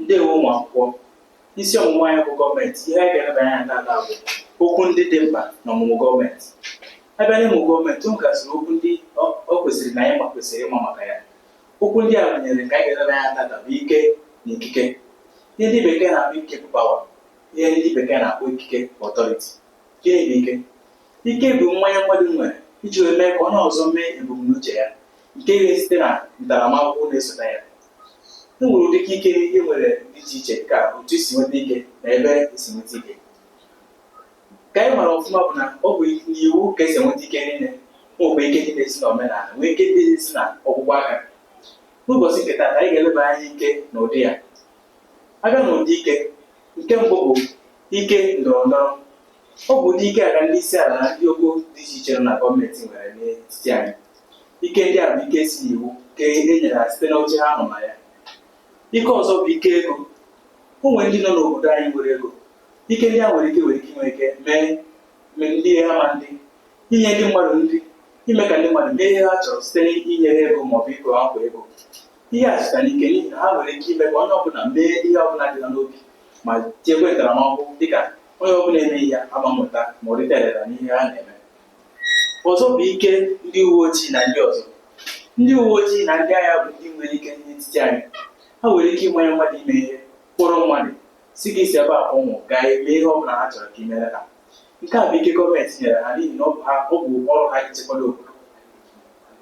ndewo ụmụ akwụkwọ isi ọmụmụ anyị bụ gọọmenti ihe anyị ga-eleba anya tata bụ okwu ndị dị mkpa na ọmụmụ gọọmenti a bịa n'ịmụ gọọmenti o nwegasịrị okwu ndị o kwesịrị na anyị ma kwesịrị ịma maka ya okwu ndị a gụnyere ka anyị ga-eleba anya tata bụ ike na ikike ihe ndị bekee na-akpọ ike bụ pawa ihe ndị bekee na-akpọ ikike bụ ọtọriti gịnị bụ ike Ike bụ mmanye mmadụ nwere iji wee mee ka onye ọzọ mee ebumnuche ya nke ga-esite na ntaramahụhụ na-esote ya. E nwere ụdị ike e nwere dị iche iche dịka otu esi nweta ike na ebe esi nweta ike. Ka anyị mara ọfụma bụ na ọ bụ n'iwu ka esi enweta ike niile nwekwa ike ndị na-esi na omenala nwee ike ndị na-esi na ọkpụkpụ aka. N'ụbọchị nke taata anyị ga-eleba anya ike na ụdị ya. A bịa n'ụdị ike, nke mbụ bụ ike ndọrọ ndọrọ Ọ bụ ụdị ike a ka ndị isi ala na ndị ogo dị iche iche nọ na gọọmenti nwere n'etiti anyị. Ike ndị a bụ ike si n'iwu nke e nyere ha site n'oche ha nọ na ya. Ike ọzọ bụ ike ego. O nwere ndị nọ n'obodo anyị nwere ego. Ike ndị a nwere ike nwere ike inwe ike mee mee ndị ha ma ndị inye ndị mmadụ nri, ime ka ndị mmadụ mee ihe ha chọrọ site n'inye ha ego ma ọ bụ ịkwụ ha kwa ego. Ihe a sitere n'ike n'ihi na ha nwere ike ime ka onye ọbụla mee ihe ọbụla dị ha n'obi ma jikwa ntaramahụhụ dịka onye ọbụla emeghị ya amamụta ma ọ rite erere n'ihe ha na-eme ọzọ bụ ike ndị uwe ojii na ndị ọzọ ndị uwe ojii na ndị agha bụ ndị nwere ike n'etiti anyị ha nwere ike ịmanye mmadụ ime ihe kpọrọ mmadụ sị gị si ebe a pụọ gaa eme ihe ọ bụla ha chọrọ ka imere ha nke a bụ ike gọọmenti nyere ha n'ihi na ọ bụ ha ọ bụ ọrụ ha ichekwado obodo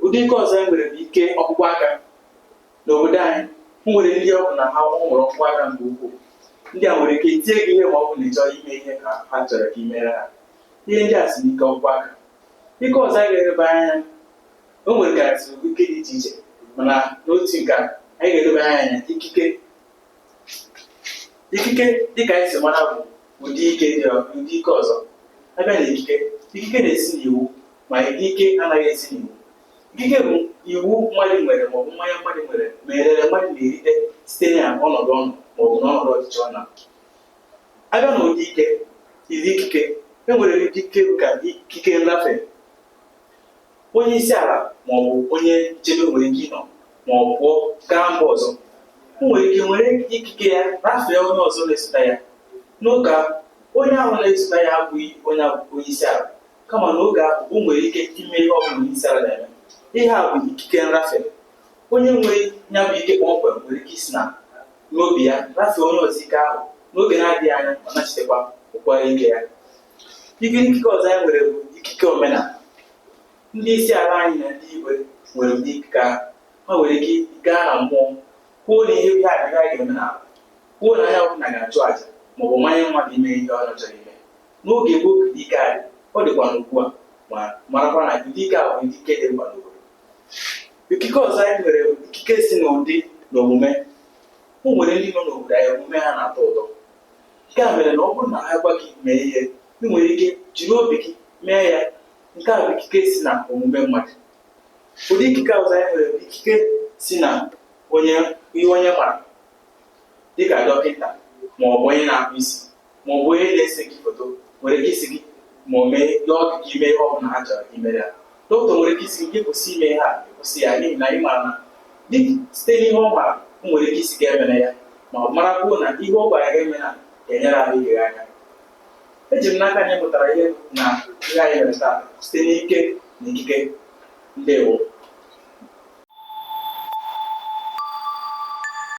ụdị ike ọzọ e nwere bụ ike ọkpụkpụ aka N'obodo anyị, e nwere ndị ọ bụ na ha nwere ọkpụkpụ aka nke ukwuu. Ndị a nwere ike tie gị ihe ma ọ bụ na ị chọghị ime ihe ka ha chọrọ ka i mere ha. Ihe ndị a si n'ike ọkpụkpụ aka. Ike ọzọ anyị ga-eleba anya o nwere gasị ike dị iche iche mana n'otu nke a anyị ga-eleba anya anya ikike ikike dịka anyị si mara bụ ụdị ike dị ọ- ụdị ike ọzọ abịa na ikike ikike na-esi n'iwu ma ike anaghị esi n'iwu Ikike bụ iwu mmadụ nwere maọbụ mmanye mmadụ nwere ma erere mmadụ na-erite site na ọnọdụ ọ nọ maọbụ na ọnọdụ ọchịchị ọ nọ abịa na ụdị ike i- ikike e nwere ụdị ike ka ikike nrafe onye isi ala maọbụ onye nchebe nwere ike ịnọ ma ọ pụọ gaa mba ọzọ o nwere ike were ikike ya rafee onye ọzọ na-esote ya n'oge onye ahụ na-esote ya abụghị onye abụghị onye isi ala kama na oge ahụ o nwere ike ime ihe ọ bụla isi ala na-eme ihe a bụ ikike nrafe onye nwere ya bụ ike kpọmkwem nwere ike isi na n'obi ya rafee onye ọzọ ike ahụ n'oge na-adịghị anya ọ nachitekwa ụkwara ike ya ike ikike ọzọ anyị nwere bụ ikike omenala ndị isi ala anyị na ndị igwe nwere ụdị ikike ahụ ha nwere ike gaa na mmụọ kwuo na ihe a adịghị anyị ga-eme n'ala kwuo na onye ọbụla ga-achụ àjà maọbụ manye mmadụ ime ihe ọ chọrọ ime N'oge gboo ụdị ike a dị, ọ dịkwa n'ugbu a, ma marakwa na ụdị ike a bụ ikike dị mkpa n'obodo. Ikike ọzọ anyị nwere bụ ikike si n'ụdị na omume. O nwere ndị nọ n'obodo anyị omume ha na-atọ ụtọ. Nke a mere na ọ bụrụ na ha gwa gị mee ihe, ị nwere ike jiri obi gị mee ya. Nke a bụ ikike si na omume mmadụ. Ụdị ikike ọzọ anyị nwere bụ ikike si na onye ihe onye mara, dịka dọkịta ma ọ bụ onye na-akpụ isi. ma ọ bụ onye na-ese gị foto nwere ike ịsị gị ma ọ mee ihe ọ dị ka ime ihe ọ bụla ha chọrọ ka i mere ya dọkịta nwere ike ịsị gị kwụsị ime ihe a kwụsị ya n'ihi na ị mara na site n'ihe ọ mara o nwere ike ịsị gị emere ya ma marakwuo na ihe ọ gwara gị eme na ga-enyere ahụ ike anya eji m n'aka anyị mụtara ihe na ihe anyị mere taa site n'ike na ikike ndewo